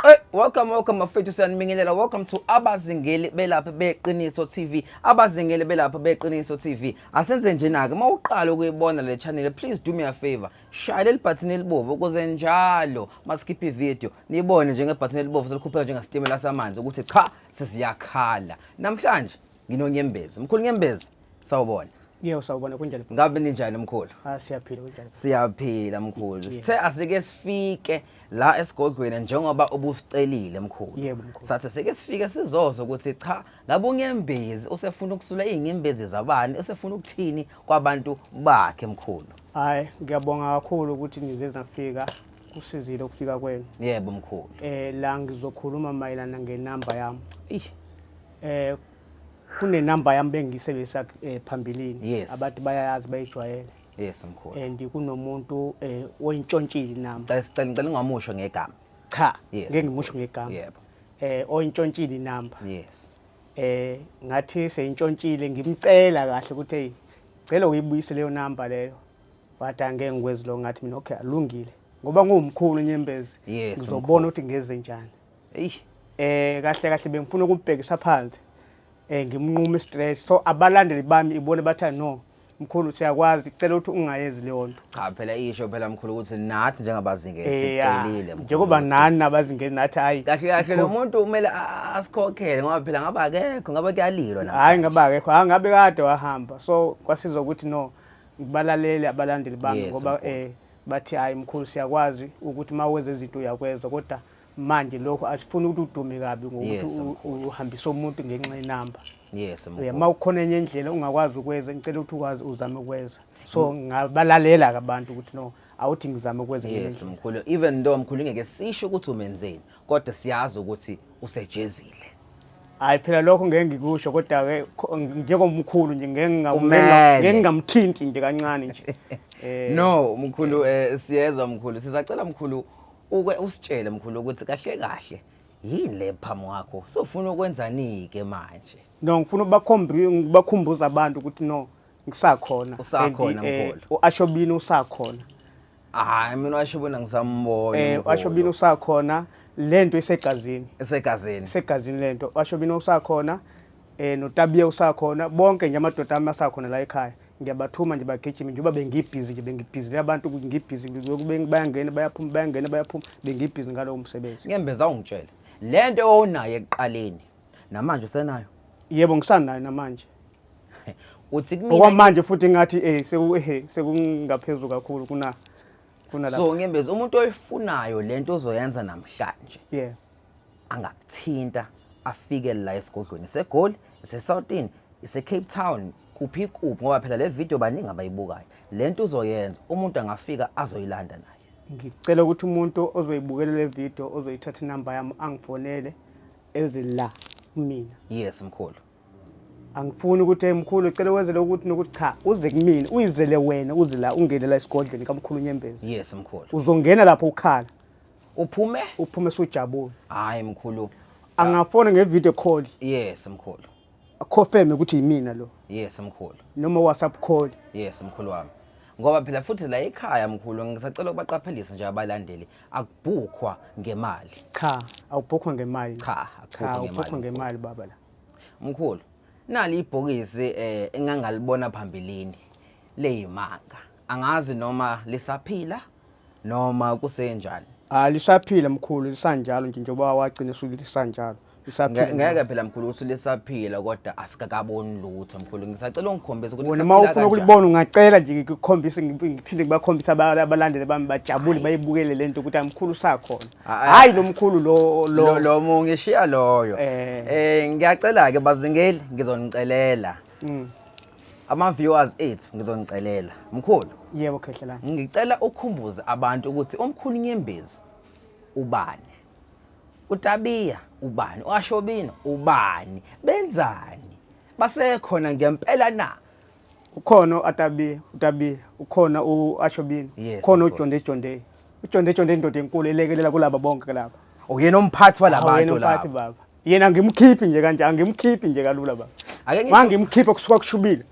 Eh, welcome welcome mafethu siyanibingelela welcome to abazingeli belapha beqiniso TV abazingeli belapha beqiniso TV asenze njena ke mawuqala ukuyibona le channel please do me a favor shaya leli button elibovu ukuze njalo masikhiphe video nibone njenge button elibovu selikhupheka njenga stimela samanzi ukuthi cha sesiyakhala namhlanje nginonyembezi mkhulu nyembezi Sawubona. Yebo sawubona kunjani? Ngabe ninjani mkhulu? Ah siyaphila kunjani? Siyaphila mkhulu. Sithe asike sifike la esigodlweni njengoba ubusicelile mkhulu. Yebo mkhulu. Sathi sike sifike sizozo ukuthi cha ngabe unyembezi usefuna ukusula izinyembezi zabani usefuna ukuthini kwabantu bakhe mkhulu. Hayi ngiyabonga kakhulu ukuthi nize nafika kusizile ukufika kwenu. Yebo mkhulu. Eh la ngizokhuluma mayelana ngenamba yami. Eh kunenamba yami bengiyisebenzisa eh, phambilini yes. abantu bayayazi bayijwayele yes mkhulu and kunomuntu eh, oyintshontshile nami cela ngicela ungamusho ngegama cha yes. ngeke ngimusho ngegama yebo eh oyintshontshile inamba yes eh ngathi seyintshontshile ngimcela kahle ukuthi hey cela uyibuyise leyo namba leyo wathi angeke ngikwenzi lo ngathi mina okay alungile ngoba ngumkhulu nyembezi ngizobona ukuthi ngeze njani eyi eh kahle kahle bengifuna ukubhekisa phansi eh ngimnqume stress so abalandeli bami ibone batha no mkhulu siyakwazi cela ukuthi ungayenzi leyo nto cha phela isho phela mkhulu ukuthi nathi njengabazingeli Eh, ah, sicelile mkhulu njengoba ukuthi- nani abazingeni nathi hayi kahle kahle lo muntu kumele a- asikhokhele ngoba phela ngabe akekho ngabe kuyalilwa hayi namhlanje. ngabe akekho hayi ngabe kade wahamba so kwasiza ukuthi no ngibalalele abalandeli bami Yes, ngoba mkhulu. eh bathi hayi mkhulu siyakwazi ukuthi uma wenza izinto uyakwezwa kodwa manje lokho asifuni ukuthi udume kabi ngokuthi uhambise umuntu ngenxa yenamba yes uma ukhona enye indlela ungakwazi ukwenza ngicela ukuthi ukwazi uzame ukwenza so mm. ngabalalela ke abantu ukuthi no awuthi ngizame ukwenza yes mkhulu even though mkhulu ngeke sisho ukuthi umenzeni kodwa siyazi ukuthi usejezile hayi phela lokho ngeke ngikusho kodwa ke njengomkhulu nje ngeke ngamela ngeke ngamthinti nje kancane nje eh. no mkhulu eh, siyezwa mkhulu sizacela mkhulu Uke usitshele mkhulu ukuthi kahle kahle yini le phamu wakho sofuna ukwenzani ke manje no ngifuna ubakhombi ngibakhumbuza abantu ukuthi no ngisakhona usakhona eh, mkhulu uashobini usakhona hayi mina uashobini ngisambona eh uashobini usakhona lento isegazini isegazini isegazini lento uashobini usakhona eh noTabiya usakhona bonke nje amadoda ami asakhona la ekhaya ngiyabathuma nje bagijime njengoba bengibhizi nje bengibhizile abantu ngibhizi bayangena bayaphuma bayangena bayaphuma bengibhizi ngalowo msebenzi ngembeza ungitshele le nto owunayo ekuqaleni namanje usenayo yebo ngisanayo namanje uthi kumina okwamanje futhi ngathi eh seku eh sekungaphezulu kakhulu kuna kuna lapha so ngembeza umuntu oyifunayo lento ozoyenza namhlanje yeah angakuthinta afike la esigodlweni segoli esesawutini isecape town kuphi kuphi ngoba phela le video baningi abayibukayo le nto uzoyenza umuntu angafika azoyilanda naye ngicela ukuthi umuntu ozoyibukela le video ozoyithatha inamba yami angifonele ezila kumina yes mkhulu angifuni ukuthi mkhulu cela wenzele ukuthi nokuthi cha uze kumina uyizele wena uze la ungene la esigodlweni kamkhulu nyembezi yes mkhulu uzongena lapho ukhala uphume uphume sujabule hayi mkhulu angafona ngevideo call yes mkhulu akhofeme ukuthi yimina lo yes mkhulu noma whatsapp call yes mkhulu wami ngoba phela futhi la ekhaya mkhulu ngisacela ukubaqaphelisa nje abalandeli akubhukhwa ngemali cha awubhukhwa ngemali cha akubhukhwa ngemali baba la mkhulu nali ibhokisi eh engangalibona phambilini leyimanga angazi noma lisaphila noma kusenjani Ah lisaphila mkhulu lisanjalo nje njengoba wagcina esuke lisanjalo. Nge- Lisaphila. ngeke phela mkhulu ukuthi lisaphila kodwa asikakaboni lutho mkhulu ngisacela ungikhombise ukuthi Wena uma lisaphila ufuna kanjani. ukulibona ungacela nje ngikukhombise ngip- ngiphinde ngibakhombise aba- abalandeli bami bajabule bayibukele lento ukuthi amkhulu usakhona. Ah, ah. Hayi lo mkhulu lo lo lo lo mu ngishiya loyo Eh. eh ngiyacela ke bazingeli ngizonicelela Mm. ama viewers ethu ngizonicelela mkhulu yebo khehlelana ngicela ukhumbuze abantu ukuthi umkhulu nyembezi ubani utabiya ubani uashobino ubani benzani basekhona ngempela na ukhona uatabiya utabiya ukhona uashobino Yes, ukhona mkhulu. ujonde jonde ujonde jonde indoda enkulu elekelela kulaba bonke laba uyena umphathi Uyena walabantu umphathi laba baba yena ngimkhiphi nje kanje angimkhiphi nje kalula baba Ake ngithi- mangimkhiphe kusuka kushubile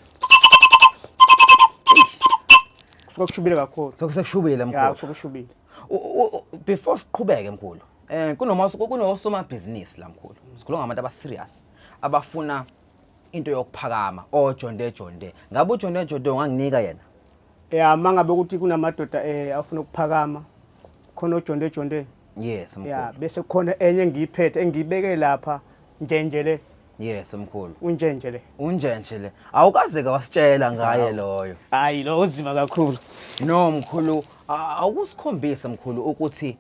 kusuka kushubile kakhulu Soku- sekushubile ya mkhulu kusuka kushubile U- u- u- before siqhubeke mkhulu eh kunoma kunosomabhizinisi la mkhulu sikhuluma ngabantu abaserious abafuna into yokuphakama ojonde jonde ngabe ujonde jonde unganginika yena ya mangabe ukuthi kunamadoda eh afuna ukuphakama khona ojonde jonde yes mkhulu ya bese khona enye engiyiphethe engiyibeke lapha njenje le yes mkhulu unjenje le unjenje le awukaze kwasitshela ngaye loyo hayi lo uzima kakhulu no mkhulu awukusikhombisa mkhulu ukuthi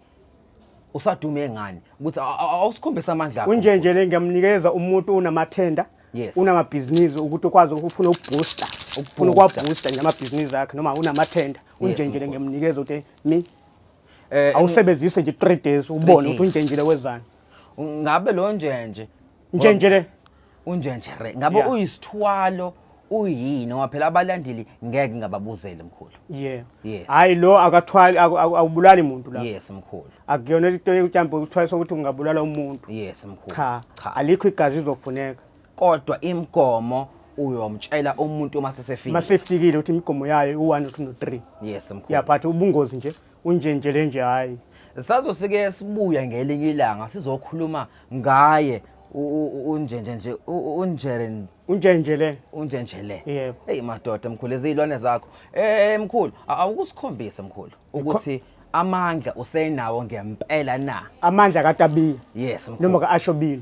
usadume ngani ukuthi awusikhombisa amandla unjenje le ngiyamnikeza umuntu unamathenda yes. unamabhizinisi ukuthi ukwazi ukufuna ukubooster ukufuna ukwabooster nje amabhizinisi akhe noma unamathenda unjenjele yes, ngemnikeza ukuthi mi Eh, awusebenzise nje 3 days ubone ukuthi unjenjile wezani ngabe lo njenje njenjile unjenje re ngabe yeah. uyisithwalo uyini ngoba phela abalandeli ngeke ngababuzele mkhulu yeah yes hayi lo akathwali awubulali umuntu la yes mkhulu akuyona into yokuthi mhlawumbe ukuthwalisa ukuthi ungabulala umuntu yes mkhulu cha cha alikho igazi lizofuneka kodwa imigomo uyomtshela umuntu uma sesefika masefikile ukuthi imigomo yayo u-1 no-2 no-3 yes mkhulu ya but ubungozi nje unje nje le nje hhayi sazosike sibuya ngelinye ilanga sizokhuluma ngaye u- u- u- unjenje nje u- u- unjere unje nje le unjenje le Yebo. eyi madoda mkhulu eziyilwane zakho eh mkhulu a- awukusikhombise mkhulu ukuthi amandla usenawo ngempela na amandla katabiya yes mkhulu noma ka-ashobile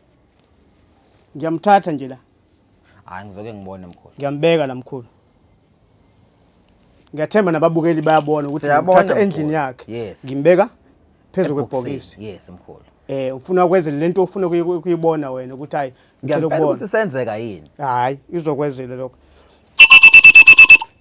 Ngiyamthatha nje la. Hayi ngizoke ngibone mkhulu. Ngiyambeka la mkhulu. Ngiyathemba nababukeli bayabona ukuthi ngithatha endlini yakhe. Ngimbeka phezu kwebhokisi. Yes mkhulu. Eh ufuna ukwenza lento ofuna kuyibona wena ukuthi hayi ngicela ukubona. Ngiyabona ukuthi senzeka yini? Hayi izokwenzela lokho.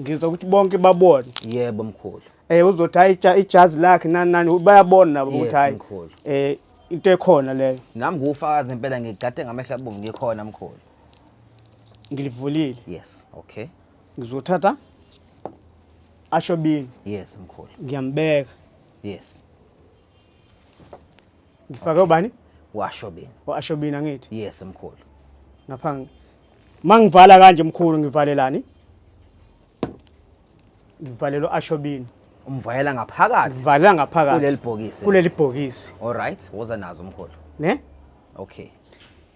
ngizwa ukuthi bonke babone yebo mkhulu eh uzothi hayi ija- ijazi lakhe nani nani bayabona nabo Yes, ukuthi hayi mkhulu. eh into ekhona leyo nami nguwufakazi impela ngigade ngamehla abomvu ngikhona mkhulu ngilivulile yes okay ngizothatha ashobini yes mkhulu ngiyambeka yes Ngifake ubani? Washobini. Washobini angithi? Yes mkhulu. Ngapha mangivala kanje mkhulu ngivalelani? Ngivalelo ashobini. Umvalela ngaphakathi. Ngivalela ngaphakathi. Kuleli bhokisi. Kuleli bhokisi. All right, woza nazo mkhulu. Ne? Okay.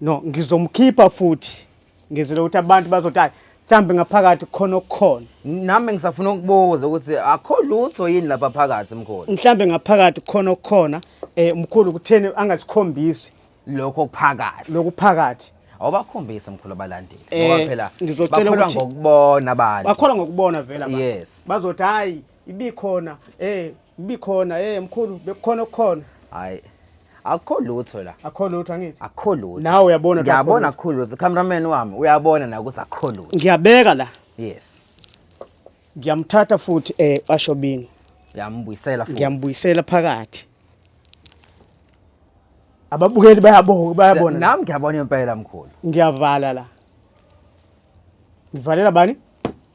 No, ngizomkhipha futhi. ngizile ukuthi abantu bazothi hayi mhlawumbe ngaphakathi khona okukhona nami ngisafuna ukubuza ukuthi akho lutho yini lapha phakathi mkhulu mhlawumbe ngaphakathi khona okukhona um mkhulu kutheni angasikhombisi lokho kuphakathi lokuphakathi awubakhombisi mkhulu abalandeli Eh, ngoba phela ngizocela bakholwa ukuthi- ngokubona abantu bakholwa ngokubona vele abantu. Yes. bazothi hhayi ibikhona eh ibikhona eh mkhulu bekukhona okukhona hayi akukho lutho la akho lutho angithi akukho lutho Nawe uyabona ukuthi akukho ngiyabona lutho. akukho lutho cameraman wami uyabona na ukuthi akukho lutho ngiyabeka la yes ngiyamthatha futhi eh ashobini ngiyambuyisela futhi ngiyambuyisela phakathi ababukeli bayaboka bayabona la. nami ngiyabona impela mkhulu ngiyavala la ngivalela bani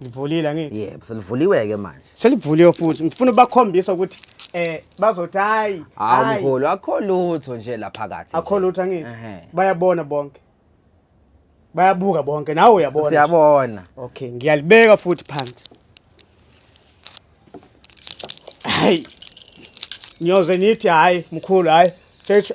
Livulile angithi? Yebo, selivuliwe ke manje. Selivuliwe futhi. Ngifuna ubakhombisa ukuthi eh bazothi hayi. Hayi mkhulu, akho lutho nje la phakathi. Akho lutho angithi? Bayabona bonke. Bayabuka bonke nawe uyabona. Siyabona. Okay, ngiyalibeka futhi phansi. Hayi. Nyoze nithi hayi mkhulu hayi. Thethu.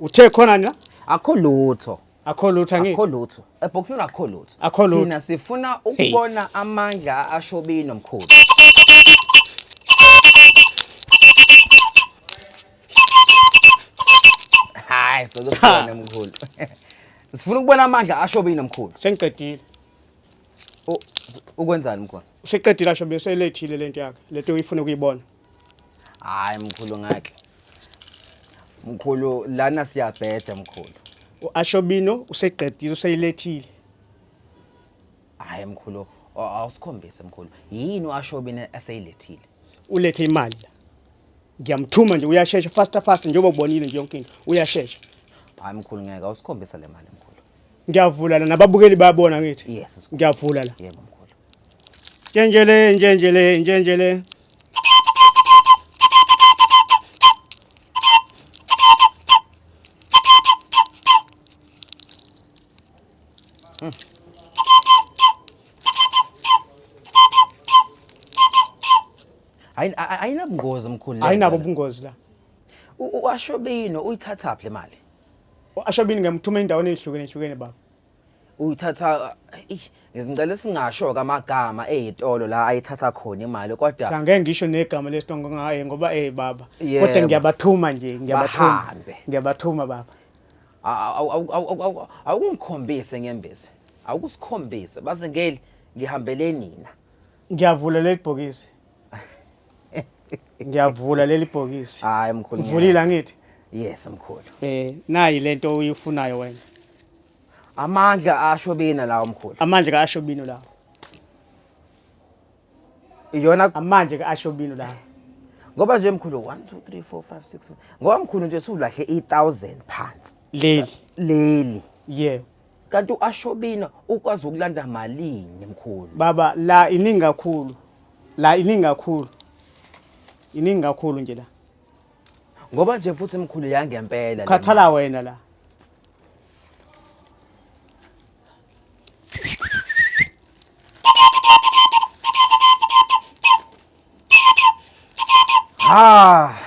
Uthe khona na? Akho lutho. Akho lutho angithi. Akho lutho. Ebhoksini akho lutho. Akho lutho. Thina sifuna ukubona hey. amandla ashobini nomkhulu. Hayi sokubona mkhulu. Sifuna ukubona amandla ashobini nomkhulu. Sengiqedile. Ukwenzani mkhulu? Useqedile ashobini selethile lento yakhe. Lento uyifuna ukuyibona. hayi mkhulu ngake mkhulu lana siyabheda mkhulu u-ashobino useqedile useyilethile hayi mkhulu a- awusikhombise mkhulu yini u-ashobini eseyilethile ulethe imali la ngiyamthuma nje uyashesha faster faster njengoba ubonile nje yonke into uyashesha hayi mkhulu ngeke awusikhombise le mali mkhulu ngiyavula la nababukeli bayabona ngithi yes mkhulu. ngiyavula la yebo mkhulu njenjele njenjele njenjele Ayi- a- a- ayinabungozi mkhulu le ayinabo ndaba. ubungozi la U- u- ashobino uyithathaphi le mali ashobini ngiyamuthuma endaweni ezihlukene hlukene baba uthatha ngizingcela singasho kamagama ezitolo la ayithatha khona imali kodwa cha ngeke ngisho negama lesitolo ngaye ngoba eh baba kodwa ngiyabathuma nje ngiyabathuma ngiyabathuma baba awukungikhombise ngembezi awukusikhombise baze ngeli ngihambele nina ngiyavula leli bhokisi ngiyavula leli bhokisi hayi mkhulu ngivulile angithi yes mkhulu eh nayi lento uyifunayo wena amandla asho bina lawo mkhulu amandla ka asho bino lawo iyona amandla ka asho bino lawo ngoba nje mkhulu 1 2 3 4 5 6 ngoba mkhulu nje sulahle i1000 phansi leli leli yebo kanti uashobina ukwazi ukulanda malini mkhulu baba la iningi kakhulu la iningi kakhulu iningi kakhulu nje la ngoba nje futhi mkhulu yangempela khathala wena la Ah!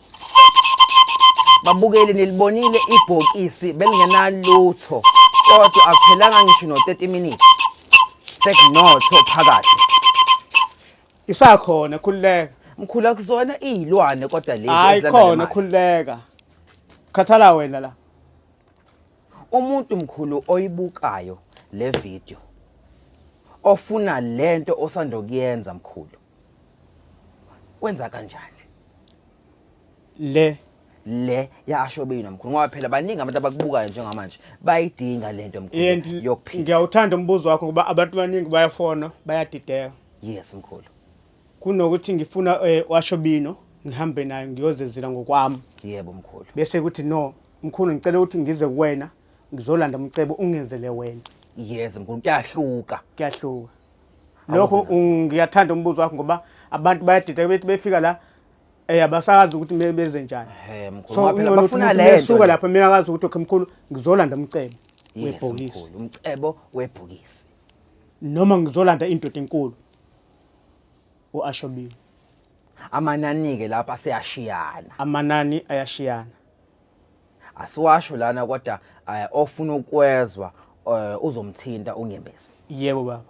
babukeli nilibonile ibhokisi belingenalutho kodwa akuphelanga ngisho no-30 minutes sekunotho phakathi isakhona khululeka mkhulu akuzona iyilwane kodwa lezi hayi ezilanda khona nemali. khululeka khathala wena la umuntu mkhulu oyibukayo le video ofuna lento osandokuyenza mkhulu kwenza kanjani le le yasho bina mkhulu ngoba phela baningi abantu abakubukayo njengamanje bayidinga lento mkhulu yokuphila ngiyawuthanda umbuzo wakho ngoba abantu baningi bayafona bayadideka yes mkhulu kunokuthi ngifuna eh, washo bino ngihambe naye ngiyozezela ngokwami yebo mkhulu bese kuthi no mkhulu ngicela ukuthi ngize kuwena ngizolanda umcebo ungenzele wena yes mkhulu kuyahluka kuyahluka lokho ngiyathanda umbuzo wakho ngoba abantu bayadida bethi befika la eh abasazi ukuthi kumele benze njani so bafuna le suka lapha mina akazi ukuthi okay mkhulu ngizolanda umcebo webhokisi umcebo webhokisi noma ngizolanda indoda enkulu uashobile amanani ke lapha seyashiyana amanani ayashiyana asiwasho lana kodwa eh, ofuna ukwezwa eh, uzomthinta unyembezi yebo baba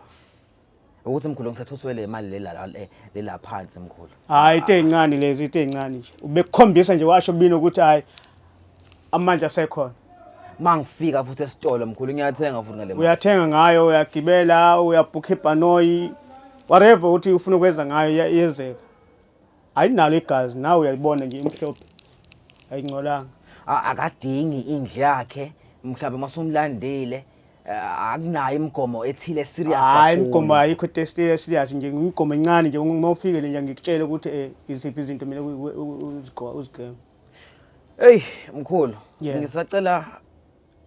ukuthi mkhulu ngisathuswe le mali lela la- le- lela phansi mkhulu hayi into ey'ncane lezi into ey'ncane nje ubekukhombisa nje washo bini ukuthi hhayi amandla asekhona mangifika futhi esitolo mkhulu ngiyathenga futhi ngale mali uyathenga ngayo uyagibela uyabhukha ibhanoyi whatever ukuthi ufuna ukwenza ngayo iya- iyenzeka ayinalo igazi nawe uyalibona nje imhlophe ayingcolanga A- akadingi indlu yakhe mhlawumbe uma sumlandile eh, akunayo imigomo ethile serious hayi kakhulu. imigomo ayikho test serious nje imigomo encane nje uma ufikele nje ngikutshele ukuthi eh, iziphi izinto mina uzigema Ey mkhulu Yeah. ngisacela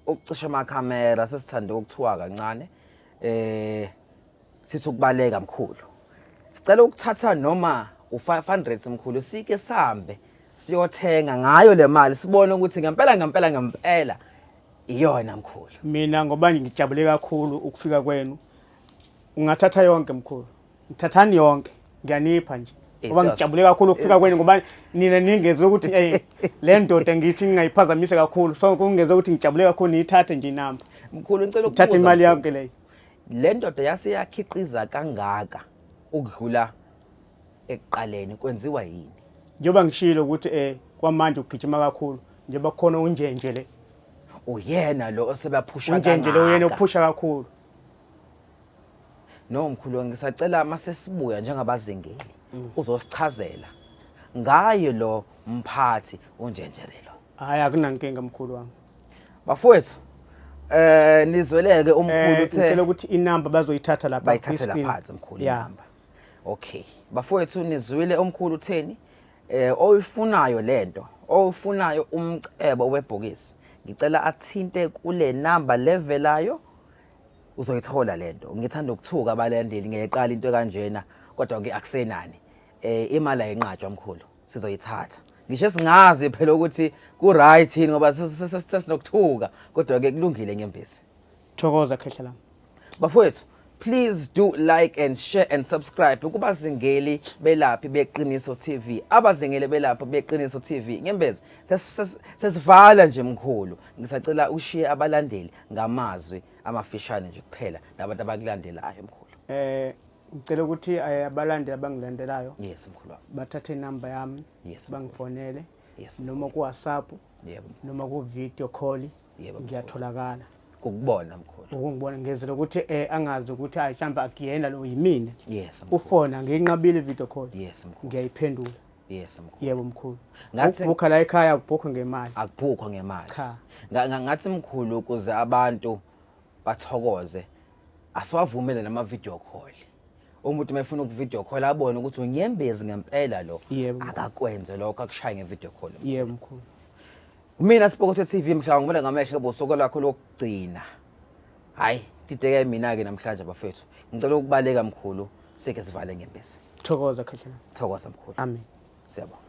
ukucisha amakhamera sesithanda ukuthiwa kancane eh Sithi ukubaleka mkhulu. Sicela ukuthatha noma u500 mkhulu sike sambe siyothenga ngayo le mali sibone ukuthi ngempela ngempela ngempela iyona mkhulu. Mina ngoba ngijabule kakhulu ukufika kwenu. Ungathatha yonke mkhulu. Ngithathani yonke. Ngiyanipha nje. Ngoba ngijabule kakhulu ukufika kwenu ngoba nina ningeze ukuthi eh le ndoda ngithi ngingayiphazamisa kakhulu. So kungeze ukuthi ngijabule kakhulu ngiyithathe nje inamba. Mkhulu ngicela ukuthatha imali yakhe leyo. Le ndoda yase yakhiqiza kangaka ukudlula ekuqaleni kwenziwa yini? Njengoba ngishilo ukuthi eh kwamanje ugijima kakhulu njengoba kukhona unjenje le. Uyena lo osebaphusha kangaka. Unjenje lo uyena ophusha kakhulu. No mkhulu ngisacela masesibuya njengabazingeli mm. uzosichazela ngayo lo mphathi unjenjerelo. Hayi akunankinga mkhulu wami. bafowethu eh nizweleke umkhulu Eh, uthe ngicela ukuthi inamba bazoyithatha lapha bayithathela kwi-screen. phansi mkhulu Yeah. inamba okay bafowethu nizwile omkhulu utheni eh oyifunayo lento oyifunayo umcebo webhokisi ngicela athinte kule namba levelayo uzoyithola lento ngithanda ukuthuka abalandeli ngeqala into kanjena kodwa ke akusenani eh imali ayinqatshwa mkhulu sizoyithatha ngisho singazi phela ukuthi ku-right yini ngoba sesinokuthuka kodwa-ke kulungile nyembezi thokoza khehla lami bafowethu please do like and share and subscribe kubazingeli belaphi beqiniso tv abazingeli belaphi beqiniso tv nyembezi sesivala nje mkhulu ngisacela ushiye abalandeli ngamazwi amafishane nje kuphela nabantu abakulandelayo mkhulu eh ngicela ukuthi eh, abalandeli abangilandelayo yes mkhulu wami bathathe inamba yami yes bangifonele yes noma ku WhatsApp yebo noma ku video call yebo ngiyatholakala ukubona mkhulu ukungibona ngezela ukuthi eh angazi ukuthi hayi mhlamba akuyena lo yimina yes mkhulu ufona nginqabile video call yes mkhulu ngiyayiphendula yes mkhulu yebo mkhulu ngathi ukukhala ekhaya akubhukho ngemali akubhukho ngemali cha ngathi mkhulu ukuze abantu bathokoze asiwavumele nama video call umuntu mefuna uku video call abone ukuthi unyembezi ngempela lo Yebo. akakwenze lokho akushaye nge video call yebo mkhulu mina sibokothe TV mhla ngibona ngamehlo ebusuku lakho lokugcina hayi dideke mina ke namhlanje bafethu ngicela ukubaleka mkhulu sike sivale ngempisi thokoza khahlana thokoza mkhulu amen siyabonga